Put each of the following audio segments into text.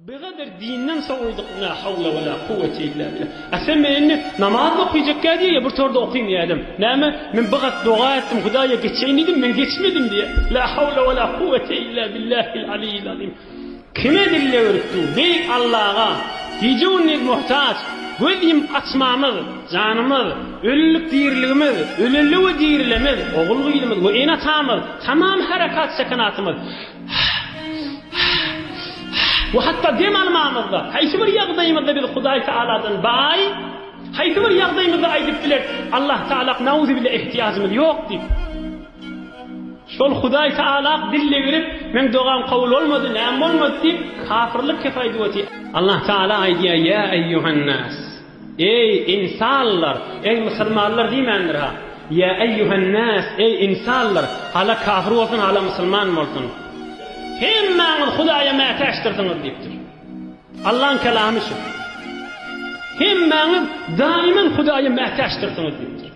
Bigadyr dinden sowydyk nä hawla wala kuwwet illa billah. A sen men indi namaz okaýjakka diýe ýa bir torda okaýyn diýäýdim. Näme men bigat doga etdim hudaýa geçeýin diýdim men geçmedim diýe. La hawla wala kuwwet illa billahil aliyil azim. Kime dille öwrüp dur beýik Allaga gije gündiz muhtaç göz ýumup açmamyz janymyz ölülik diriligimiz öleli we dirilemiz ogul gyzymyz we ene atamyz tamam herekat sekenatymyz We hatda dem almamyzda, haýsy bir ýagdaýymyzda biz Hudaý Tagaladan baý, haýsy bir ýagdaýymyzda aýdyp bileris, Allah Tagalak nauzibile ehtiýajymyz ýok diýip. Şol Hudaý Tagalak dille girip, meň dogam kabul bolmady, näme bolmady diýip, kafirlik kefaýduweti. Allah Tagala aýdýar, Ýa eýýuhan nas! Eý, ynsanlar! Eý, musulmanlar diýmändir-hä? Ýa eýýuhennäs, eý, ynsanlar! Hala kafir bolsun, hala musulman bolsun. Hemmäňiz Hudaýa mätäçdirsiňiz diýipdir. Allaň kelamy şu. Hemmäňiz daýyman Hudaýa mätäçdirsiňiz diýipdir.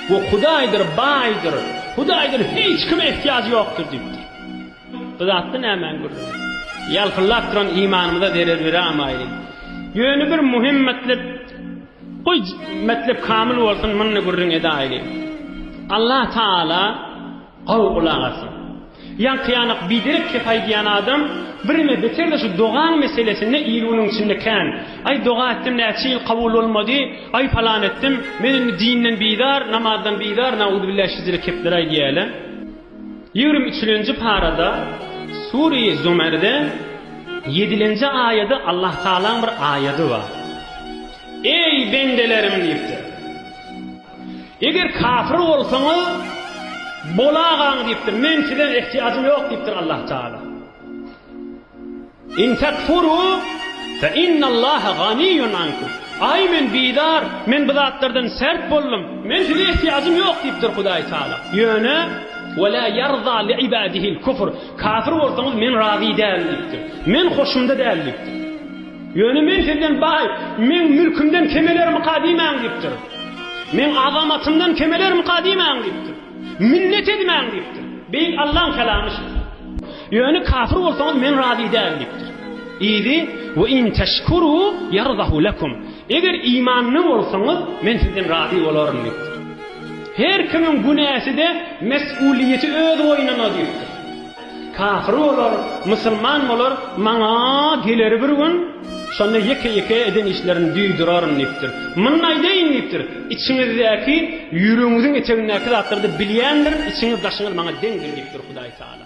We Hudaýdyr baýdyr, Hudaýdan hiç kime ehtiýajy ýokdur diýipdir. Bu zatda nämäň gürrüňi? Ýalpyldap duran imanymyza zerer beramaýly. Ýöne bir muhim metlep, goý, metlep kamyl bolsun, munda gürrüň edäýli. Allah Taala gowy gulak asyn. Ýaňky-ýanak biderek kep aýdýan adam birme beter-de şu dogaň meselesinde il-günüň içinde kän, Aý, doga etdim, näçe ýyl kabul bolmady, aý, palan etdim, men indi dinden bizar, namazdan bizar, nauzubilla şeýle kepler aýdýar-le. Ýigrimi üçülenji parada Sure-i Zumerde ýedilenji aýady Allah Tagalaň bir aýady bar. Eý bendelerim diýipdir. Eger kafir bolsaňyz bolagaň diýipdir. Men sizden ehtiýajym ýok diýipdir Allah Tagala. In tekfuru fe innallaha ganiýun ankum, Aý, men bizar, men bu zatlardan sert boldum, men size ehtiýajym ýok diýipdir Hudaý Tagala. Ýöne, Ve la ýarza li ibadihil kufr, Kafir bolsaňyz men razy däl diýipdir. Men hoşumda däl diýipdir. Ýöne men sizden baý, meň mülkümden kemelermika diýmäň diýipdir. Meň azamatymdan kemelermika diýmäň diýipdir. Minnet edmäň diýipdir. Beýik Allaň kalamy şu. Ýöne kafir bolsaňyz men razy däl diýipdir. Yzy, Ve in teşkuru yardahu lekum. Eger imanly bolsaňyz men sizden razy bolaryn diýipdir. Her kimiň günäsi-de mes'uliýeti öz boýnuna diýipdir. Kafir bolar, musulman bolar, maňa geler bir gün. Şonda ýeke-ýeke eden işlerini duýduraryn diýipdir. Muny aýdaýyn diýipdir. Içiňizdäki, ýüregiňiziň etegindäki zatlary-da bilýändirin, içiňiz-daşyňyz maňa deňdir diýipdir Hudaýtagala.